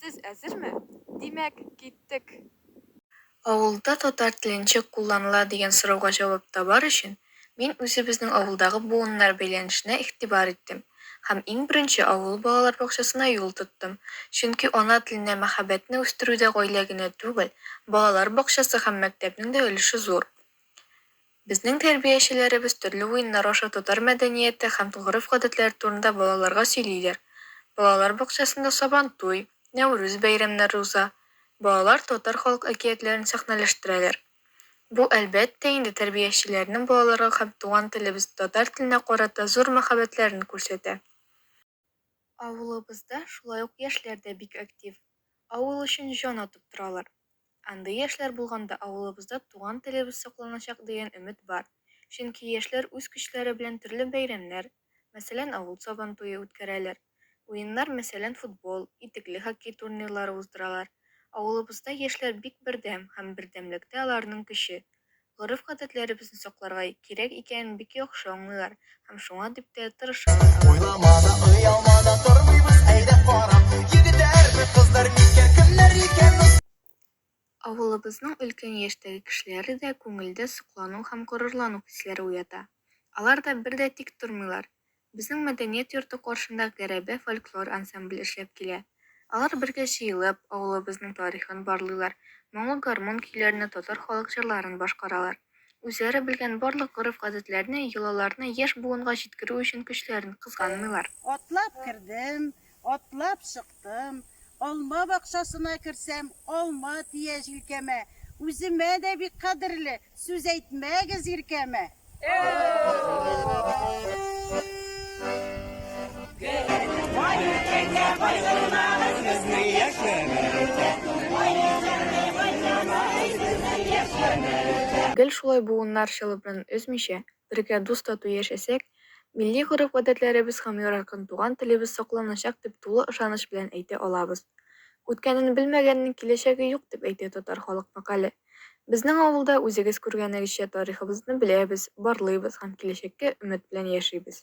Сез әзерме? Димәк, киттек! Авылда татар теле ничек кулланыла дигән сорауга җавап табар өчен, мин үзебезнең авылдагы буыннар бәйләнешенә игътибар иттем һәм иң беренче авыл балалар бакчасына юл тоттым, чөнки ана теленә мәхәббәтне үстерүдә гаилә генә түгел, балалар бакчасы һәм мәктәпнең дә өлеше зур. Безнең тәрбиячеләребез төрле уеннар аша татар мәдәнияте һәм гореф-гадәтләре турында балаларга сөйлиләр. Балалар бакчасында Сабантуй, Нәүрүз бәйрәмнәре уза. Балалар татар халык әкиятләрен сәхнәләштерәләр. Бу, әлбәттә инде, тәрбиячеләрнең балаларга һәм туган телебез татар теленә карата зур мәхәббәтләрен күрсәтә. Авылыбызда шулай ук яшьләр дә бик актив. Авыл өчен җан атып торалар. Андый яшьләр булганда авылыбызда туган телебез сакланачак дигән өмет бар. Чөнки яшьләр үз көчләре белән төрле бәйрәмнәр, мәсәлән, авыл Сабантуе үткәрәләр. Уеннар, мәсәлән, футбол, итекле хоккей турнирлары уздыралар. Авылыбызда яшьләр бик бердәм һәм бердәмлектә аларның көче. гореф-гадәтләребезне сакларга кирәк икәнен бик яхшы аңлыйлар һәм шуңа дип тә тырышалар алар. Уйлама да, оялма да тормыйбыз, әйдә кара, егетләрме, кызлар микән, кемнәр икән ул? Авылыбызның өлкән яшьтәге кешеләре дә күңелдә соклану һәм горурлану хисләре уята. Алар да бер дә тик тормыйлар, Безнең мәдәният йорты каршында Гәрәбә фольклор ансамбле эшләп килә. Алар бергә җыелып, авылыбызның тарихын барлыйлар, моңлы гармун көйләренә татар халык җырларын башкаралар. Үзләре белгән барлык гореф-гадәтләрне, йолаларны яшь буынга җиткерү өчен көчләрен кызганмыйлар. Атлап кердем, Атлап чыктым. Алма бакчасына керсәм, алма тия җилкәмә. Үземә дә бик кадерле, сүз әйтмәгез иркәмә. Бай иркәгә кайгырмагыз, безнең яшь гомер үтә. Бай иркәгә кайгырмагыз, безнең яшь гомер үтә. Гел шулай буыннар чылыбрын өзмичә, Бергә дус-тату яшәсәк, милли гореф-гадәтләребез һәм яраркын туган телебез сакланачак дип тулы ышаныч белән әйтә алабыз. Үткәнен белмәгәннең киләчәге юк дип әйтә татар халык мәкале. Безнең авылда, үзегез күргәнегезчә, тарихыбызны беләбез, барлыйбыз һәм киләчәккә өмет белән яшибез.